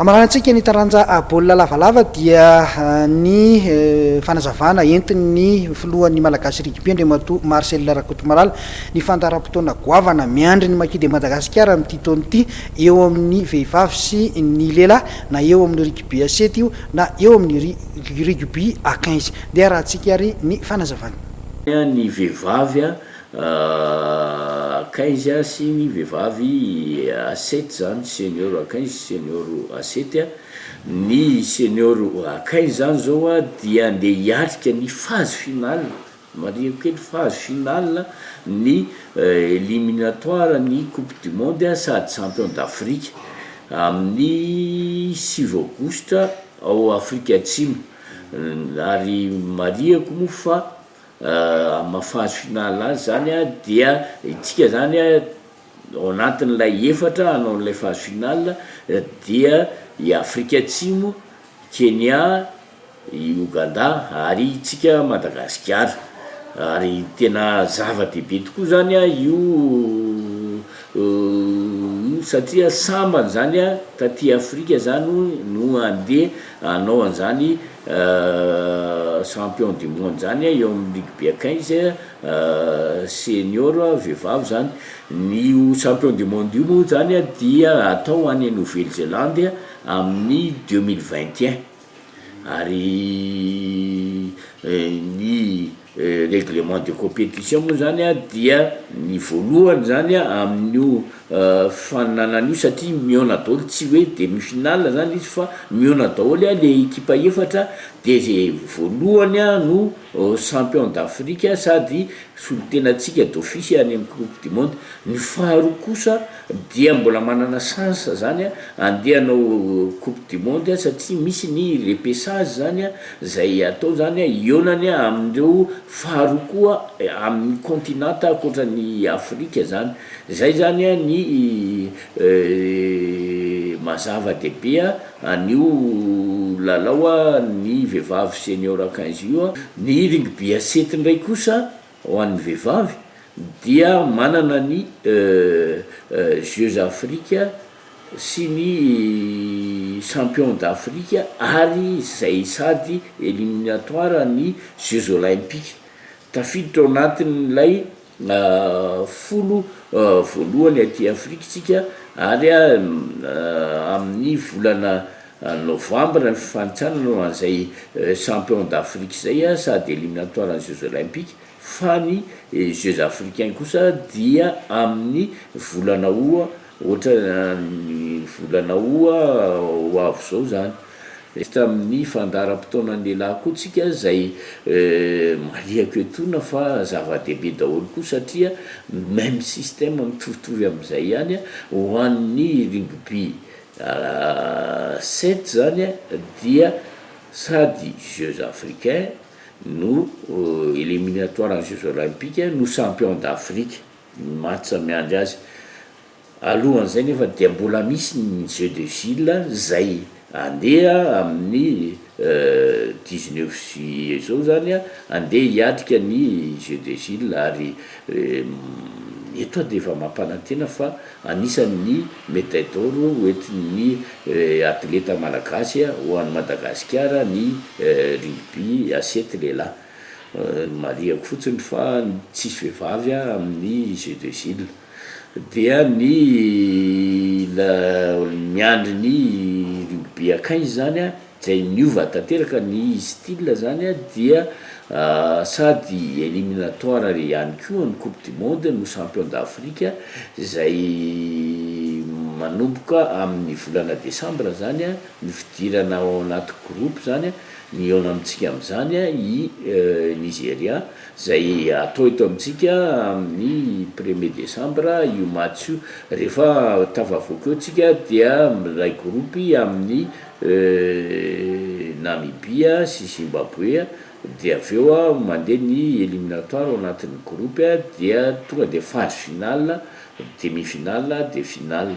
Amaranan-tsika ny taranja baolina lavalava dia ny fanazavana entin'ny filohan'ny Malagasy Rugby Andriamatoa Marcel Rakotomalala ny fandaharam-potoana goavana miandry ny Maquis de Madagascar amin'ity taona ity eo amin'ny vehivavy sy ny lehilahy na eo amin'ny Rugby à sept io na eo amin'ny Rugby à quinze. Ndeha arahantsika ary ny fanazavana. Ny vehivavy Akaizy a sy ny vehivavy asety zany senior akaizy senior asety a ny senior akaizy zany zao a dia andeha hiatrika ny phase finale marihiko kely phase finale ny eliminatoire ny coupe du monde a sady champion d'afrique amin'ny sivy aogositra ao afrika atsimo ary marihiko moa fa Amin'ny maha phase finale azy izany dia isika izany ao anatin'ilay efatra hanao an'ilay phase finale dia i Afrika Atsimo, Kenya, i Ogandà ary isika Madagasikara. Ary tena zava-dehibe tokoa izany io io satria sambany izany taty Afrika izany no handeha. Hanao an'izany champion du monde izany eo amin'ny ligue be quinze senior vehivavy izany. Ny io champion du monde io moa izany dia hatao any Nouvelle Zélande amin'ny deux mille vingt et un ary ny Règlement de compétition moa izany dia ny voalohany izany amin'io faninanana io satria mihaona daholo, tsy hoe demi finale izany izy fa mihaona daholo ilay ekipa efatra dia izay voalohany no champion d'Afrique sady solontenantsika d'office any amin'ny coupe du monde, ny faharoa kosa. dia mbola manana chance zany a andeha hanao coupe du monde a satria misy ny repechage zany a zay atao zany a hihaonany a amin'ireo faharoa koa amin'ny continente ankoatran'i Afrika zany zay zany a ny mazava dehibe a an'io lalao a ny vehivavy senior quinze io a ny rugby à sept ndray kosa Ho an'ny vehivavy dia manana ny Jeux Afrika sy ny Champions d'Afrique ary izay sady eliminatoires ny Jeux Olympiques. Tafiditra ao anatin'ilay folo voalohany aty Afrika isika ary amin'ny volana Novambra ny fifanintsanana ho an'izay champion d'Afrique izay sady eliminatoire ny jeux olympiques fa ny jeux africains kosa dia amin'ny volana oha ohatran'ny volana oha ho avy izao izany. Miresaka amin'ny fandaharam-potoanan'ny lehilahy koa tsika izay marihiko etoana fa zava-dehibe daholo koa satria meme système mitovitovy amin'izay ihany ho an'ny rugby Sept zany dia sady jeux africains no eliminatoire an'ny jeux olympiques no champion d'Afrique ny match miandry azy. Alohan'izay nefa dia mbola misy ny jeux de ville izay andeha amin'ny Dix neuf juillet izao izany andeha hiatrika ny Jeux des Îles ary eto dia efa mampanantena fa anisan' ny médaille d'or ho entin' ny atleta malagasy ho any Madagasikara ny rugby à sept lehilahy. Marihako fotsiny fa tsisy vehivavy amin' ny Jeux des Îles. Dia ny la miandry ny rugby akaiza izany a, izay niova tanteraka ny style zany a dia sady eliminatoire ihany koa ny coupe du monde no champion d'Afrique izay manomboka amin'ny volana desambra zany a ny fidirana ao anaty groupe zany a, ny eo amintsika amin'izany a i Nigeria. Izay atao eto amintsika amin'ny premier desambra io match io. Rehefa tafavoaka eo tsika dia miray groupe amin'ny Namibia sy Zimbabwe dia avy eo mandeha ny eliminatoire ao anatin'ny groupe dia tonga dia phase finale, demi finale dia finale.